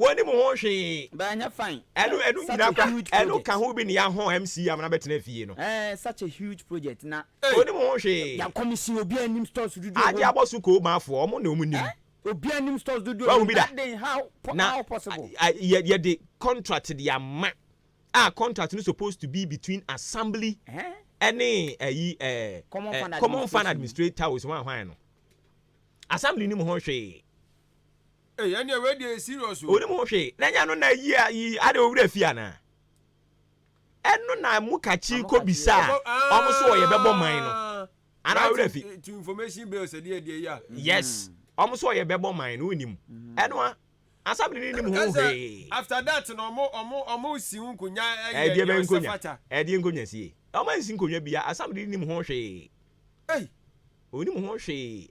Wɔnim ho hwee. Baa nyɛ fine. Ɛno ɛno nyinaa kora ɛno ka ho bi ne ya ho MC a mena bɛtena fie no. Ɛɛ such a huge project na. Wɔnim ho hwee. Yɛ commission obiara nim stores dodoɔ ɛwɔ mu. Agye abɔ so koo maafoɔ ɔmo na ɔmo nim. Obiara nim stores dodoɔ ɛwɔ mu that day how how possible. Na yɛ yɛ de contract de ama a contract no supposed to be between assembly ɛne ɛyi ɛɛ common fund administrators hwan hwan no assembly nim ho hwee. Ei ɛneɛ wei deɛ yɛ serious o. Onim ho hwee na ɛnyɛ ɛno na ayi ayi adɛ owura fie anaa ɛno na mo kakyi kɔ bisa a ɔmo so ɔyɛ bɛbɔ man no anaa owura fi. Right to information bill sɛ deɛ deɛ yi a. Yes ɔmo so ɔyɛ bɛbɔ man no onim ɛno a asabene no nim ho hwee. After that no ɔmo ɔmo ɔmo si ho nkonya ɛyɛ deɛ ɔsɛ fata. Ɛdeɛ nkonya sie ɔmo ansi nkonya bia asabene no nim ho hwee. Ei. Onim ho hwee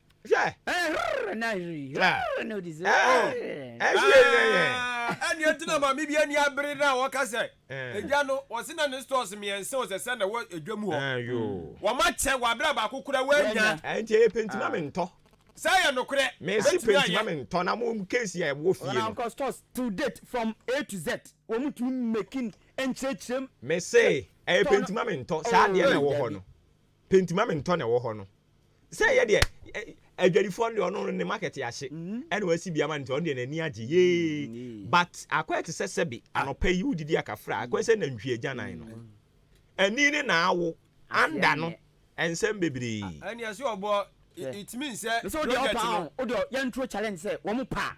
Yeah. Ɛhwere na ɛhwere. Ɛhwere na odi so. Ɛhwere na yɛ. Ɛni ɛti na maame bi ɛni abiri na ɔka sɛ. Ɛgya no ɔsi na ne stores mmiɛnsa o sɛ sɛ na ɛwɔ ɛdwa mu hɔ. Wɔn akyɛ wɔ abira baako kura wɔn nya. Ɛnti ɛyɛ pentima mi ntɔ. Sɛ ɛyɛ nukurɛ. Mɛ si pentima mi ntɔ na mo case yɛ ɛwɔ fie no. Wɔn akɔ stores till date from A to Z. Wɔn mu tumi making ɛnkyerɛkyerɛm. Mɛ se ɛyɛ pentima mi ntɔ saa adeɛ na ɛwɔ hɔ no. Pɛ nti ma me ntɔ na ɛwɔ hɔ no. Sɛ yɛ deɛ adwadifoɔ no deɛ ɔno ne market ahye ɛna wasi bi ama no nti ɔno deɛ n'ani agye yee but akɔyɛ te sɛ sɛbi anɔpa yi wodidi akafra akɔyɛ sɛ nantwie agyanan no ani ne na awo anda no nsɛm bebree. Ɛneɛ sɛ ɔbɔ ɛtumi nsɛ project no. Mesɛ wodeɛ ɔpaa o wodeɛ yɛnturo challenge sɛ wɔn paa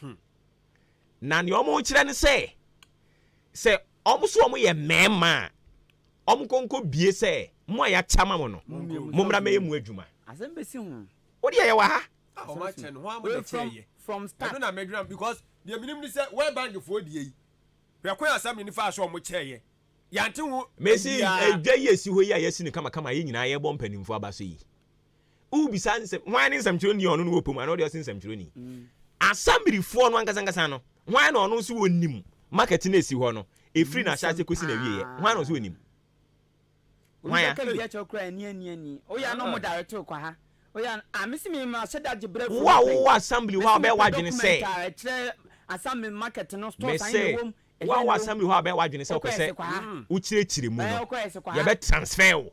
Hmm. Na nea wɔn kyerɛ ne sɛ, sɛ wɔn nso wɔn yɛ mmarima a, wɔn nkonko bie sɛ, mo a yɛakyɛ ama mo no, mo mmra mɛyɛ mu adwuma. Asɛm bɛsi ho. Wo deɛ yɛwɔ ha. Ah, wɔn akyɛ no, wɔn ama na kyɛ yɛ. From start. Ɛno na mɛdwira because deɛ menim ne sɛ wɔyɛ bankifoɔ deɛ yi. Hwɛ kwan asɛm ne ne faa so wɔn kyɛ yɛ. Yɛante ho. Mesi adwa yi esi hɔ yi a yɛasi no kamakama yɛn nyinaa yɛbɔ mpanimfoɔ aba so yi. wobisa nsɛm hwan ne nsɛmtwerɛni a ɔno no wɔ pɛ mu anaa ɔde ɔse nsɛmtwerɛni asɛmirifoɔ no ankasankasa no hwan na ɔno nso wɔnim market no ɛsi hɔ no ɛfiri no ahyɛase kɔsi no awieɛ hwan na ɔso wɔnim hwan ya wo a wowɔ assembly hɔ a wobɛyɛ w'adwene sɛ mesɛ wo a wɔ assembly hɔ a wobɛyɛ w'adwene sɛ wopɛ sɛ wokyerɛkyerɛ mu no yɛbɛ transfer wo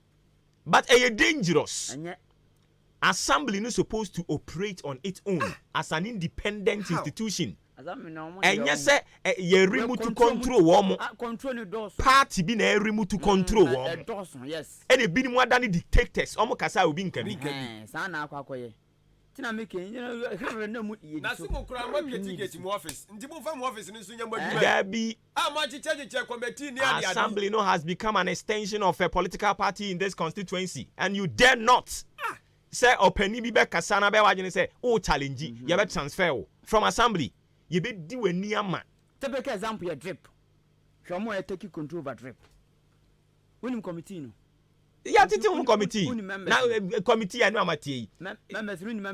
But ɛyɛ dangerous. Assembly no supposed to operate on it own as an independent institution. Ɛnyɛ sɛ yɛ remote control wɔn. Party bi na ɛremote control wɔn. Ɛna ebinom adane dictators, wɔn kasa a obi nka bi. Daabi, a moakyekyɛkyekyɛ committee ne adeade. Assembly no has become an extension of a political party in this constituency and you dare not ah sɛ ɔpanin bi bɛkasa na bɛyɛ w'adwene sɛ wo challenge mhm. yɛbɛ transfer wo from assembly yɛbɛdi w'ani ama. Typical example yɛ drip hwɛ ɔmo a ɛtaki control over drip wonim committee no yɛtete ho committee na eh, eh, committee a ne amatie yi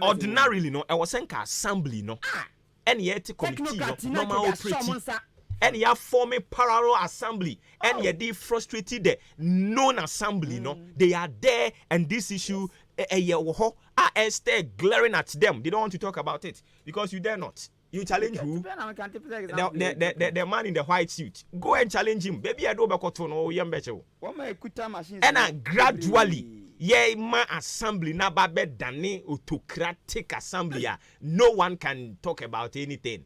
ordinarily no ɛwɔ sɛ nka assembly no ah! ɛne yɛte committee no normal operate ɛne yɛ forme parallel assembly ɛne oh. yɛde frustrate the known assembly no mm. they are there and this issue ɛyɛ wɔ hɔ a ɛstɛ glaring at them they don't want to talk about it because you dare not you challenge who the, the, the, the, the man in the white suit go and challenge him baby ɛde wobɛkɔto no yɛmbɛkyew Ɛna gradually yɛ ma assembly no aba bɛ dane autocratic assembly a no one can talk about anything.